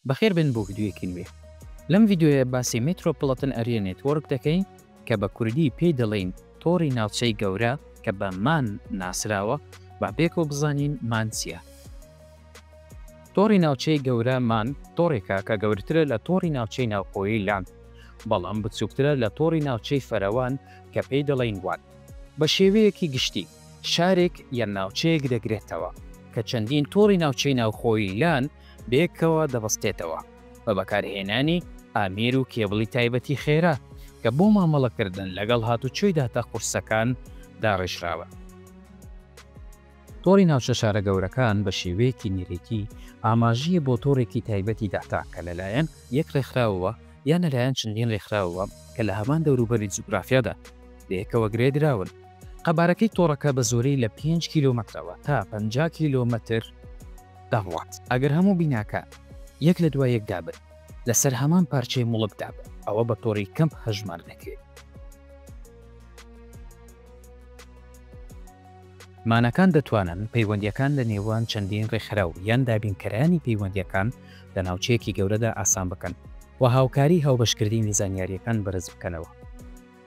بەخێر بێن بۆ ڤیدیۆیەکی نوێ. لەم ڤیدیۆیە باسی میترۆپڵەتن ئەریا نێتوۆرک دەکەین کە بە کوردی پێی دەڵێین تۆڕی ناوچەی گەورە کە بە مان ناسراوە با پێکەوە بزانین مان چیە؟ تۆڕی ناوچەی گەورە مان تۆڕێکە کە گەورترە لە تۆڕی ناوچەی ناوخۆیی لان بەڵام بچوکترە لە تۆڕی ناوچەی فەرەوان کە پێی دەڵێین وان. بە شێوەیەکی گشتی شارێک یان ناوچەیەک دەگرێتەوە کە چەندین تۆڕی ناوچەی ناوخۆیی لان، بەیەکەوە دەبەستێتەوە بە بەکارهێنانی ئامێر و کێبڵی تایبەتی خێرا کە بۆ مامەڵەکردن لەگەڵ هاتوچۆی داتا قورسەکان داڕێژراون. تۆڕی ناوچە شارە گەورەکان بە شێوەیەکی نەرێتی ئاماژەیە بۆ تۆڕێکی تایبەتی داتا کە لەلایەن یەک ڕێکخراوەوە یان لەلایەن چەندین ڕێکخراوەوە کە لە هەمان دەوروبەری جوگرافیادا بەیەکەوە گرێدراون. قەبارەکەی تۆڕەکە بە زۆری لە پێنج کیلۆمەترەوە تا پەنجا کیلۆمەتر دەڕوات. ئەگەر هەموو بیناکان یەک لە دوای یەکدا بن لەسەر هەمان پارچەی موڵکدا بن، ئەوە بە تۆڕی کەمپ هەژمار دەکرێت. مانەکان دەتوانن پەیوەندییەکان لە نێوان چەندین ڕێکخراو یان دابینکەرانی پەیوەندییەکان لە ناوچەیەکی گەورەدا ئاسان بکەن و هاوکاری هاوبەشکردنی زانیارییەکان بەرز بکەنەوە.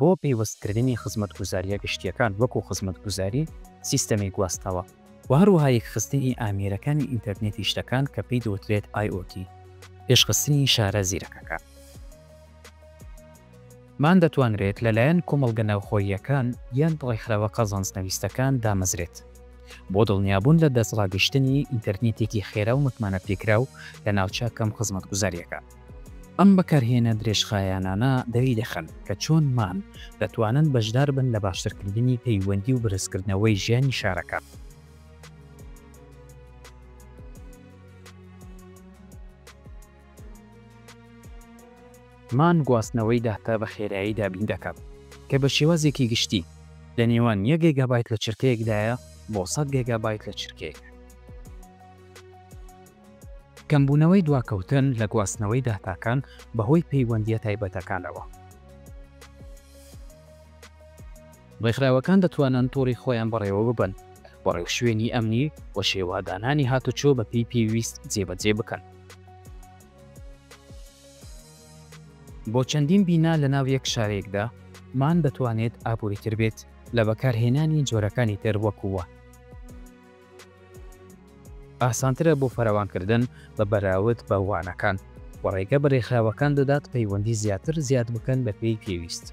بۆ پەیوەستکردنی خزمەتگوزارییە گشتییەکان وەکو خزمەتگوزاری سیستەمی گواستنەوە و هەروەها یەکخستنی ئامێرەکانی ئینتەرنێتی شتەکان کە پێی دەوترێت IOT، پێشخستنی شارە زیرەکەکان. مان دەتوانرێت لەلایەن کۆمەڵگە ناوخۆییەکان یان ڕێکخراوە قازانجنەویستەکان دامەزرێت بۆ دڵنیابوون لە دەستڕاگەیشتنی ئینتەرنێتێکی خێرا و متمانەپێکراو لە ناوچە کەم خزمەتگوزارییەکان. ئەم بەکارهێنە درێژخایەنانە دەری دەخەن کە چۆن مام دەتوانن بەشدار بن لە باشترکردنی پەیوەندی و بەرزکردنەوەی ژیانی شارەکە. مان گواستنەوەی داتا بە خێرایی دابین دەکات کە بە شێوازێکی گشتی لە نێوان یەک گێگابایت لە چرکەیەکدایە بۆ سەد گێگابایت لە چرکەیەک. کەمبوونەوەی دواکەوتن لە گواستنەوەی داتاکان بەهۆی پەیوەندییە تایبەتەکانەوە. ڕێکخراوەکان دەتوانن تۆڕی خۆیان بەڕێوەببەن و ڕێوشوێنی ئەمنی و شێوەدانانی هاتوچۆ بەپێی پێویست جێبەجێ بکەن. بۆ چەندین بینا لەناو یەک شارێکدا، مان دەتوانێت ئابووریتر بێت لە بەکارهێنانی جۆرەکانی تر وەکوو وان. ئاسانترە بۆ فراوانکردن بە بەراورد بە وانەکان، و ڕێگە بە ڕێکخراوەکان دەدات پەیوەندی زیاتر زیاد بکەن بەپێی پێویست.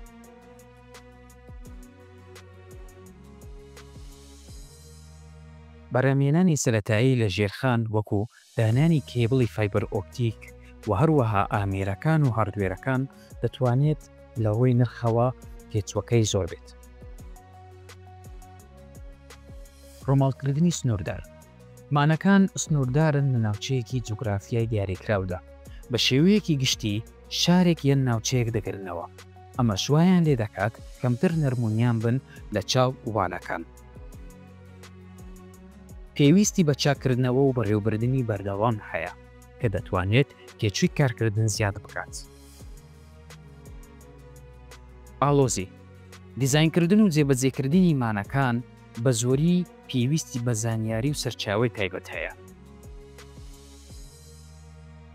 بەرهەمهێنانی سەرەتایی لە ژێرخان وەکو دانانی کێبڵی فایبەر ئۆپتیک و هەروەها ئامێرەکان و هاردوێرەکان دەتوانێت لە ڕووی نرخەوە تێچووەکەی زۆر بێت. ڕووماڵکردنی سنووردار، مانەکان سنووردارن لە ناوچەیەکی جوگرافیای دیاریکراودا، بە شێوەیەکی گشتی شارێک یان ناوچەیەک دەگرنەوە، ئەمەش وایان لێ دەکات کەمتر نەرمونیان بن لە چاو وانەکان. پێویستی بە چاککردنەوە و بەڕێوەبردنی بەردەوام هەیە کە دەتوانێت تێچووی کارکردن زیاد بکات. ئاڵۆزی، دیزاینکردن و جێبەجێکردنی مانەکان بە زۆری پێویستی بە زانیاری و سەرچاوەی تایبەت هەیە.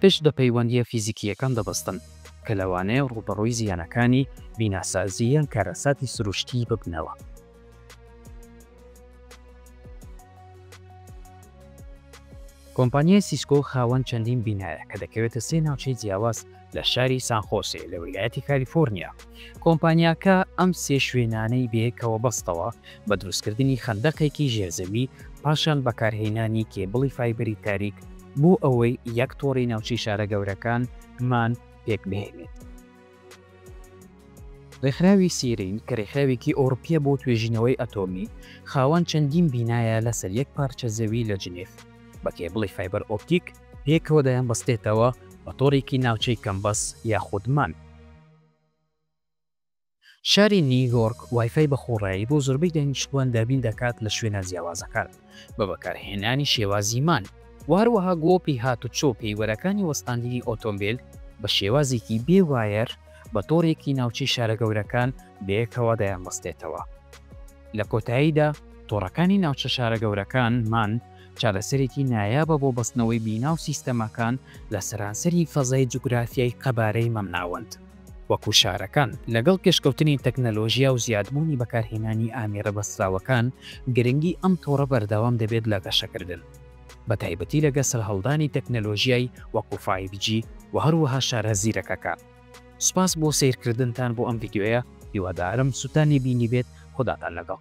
پشت بە پەیوەندییە فیزیکییەکان دەبەستن کە لەوانەیە ڕووبەڕووی زیانەکانی بیناسازی یان کارەساتی سروشتی ببنەوە. کۆمپانیای سیسکۆ خاوەن چەندین بینایە کە دەکەوێتە سێ ناوچەی جیاواز لە شاری سان خۆسێ لە ویلایەتی کالیفۆرنیا. کۆمپانیاکە ئەم سێ شوێنانەی بەیەکەوە بەستەوە بە دروستکردنی خەندەقێکی ژێرزەوی پاشان بەکارهێنانی کێبڵی فایبەری تاریک بۆ ئەوەی یەک تۆڕی ناوچەی شارە گەورەکان مان پێکبهێنێت. ڕێکخراوی سیرین کە ڕێکخراوێکی ئەوڕپیە بۆ توێژینەوەی ئەتۆمی، خاوەن چەندین بینایە لەسەر یەک پارچە زەوی لە جنێف، بە کێبڵی فایبەر ئۆپتیک پێکەوە دەیانبەستێتەوە بە تۆڕێکی ناوچەی کەمبەس یاخود مان. شاری نیویۆرک وایفای بەخۆڕایی بۆ زۆربەی دانیشتووان دابین دەکات لە شوێنە جیاوازەکان. بە بەکارهێنانی شێوازی مان و هەروەها گۆپی هاتوچۆ پێیوەرەکانی وەستاندنی ئۆتۆمبێل بە شێوازێکی بێ وایەر بە تۆڕێکی ناوچەی شارە گەورەکان بەیەکەوە دەیانبەستێتەوە. لە کۆتاییدا تۆڕەکانی ناوچە شارە گەورەکان، مان، چارەسەرێکی نایابە بۆ بەستنەوەی بینا و سیستەمەکان لە سەرانسەری فەزای جوگرافیای قەبارەی مامناوەند. وەکو شارەکان، لەگەڵ پێشکەوتنی تەکنەلۆژیا و زیادبوونی بەکارهێنانی ئامێرە بەستراوەکان، گرنگی ئەم تۆڕە بەردەوام دەبێت لە گەشەکردن، بەتایبەتی لەگە سەرهەڵدانی تەکنەلۆژیای وەکو فایڤ جی و هەروەها شارە زیرەکەکان. سوپاس بۆ سەیرکردنتان بۆ ئەم ڤیدیۆیە، هیوادارم سوتانی بینیبێت، خوداتان لەگەڵ.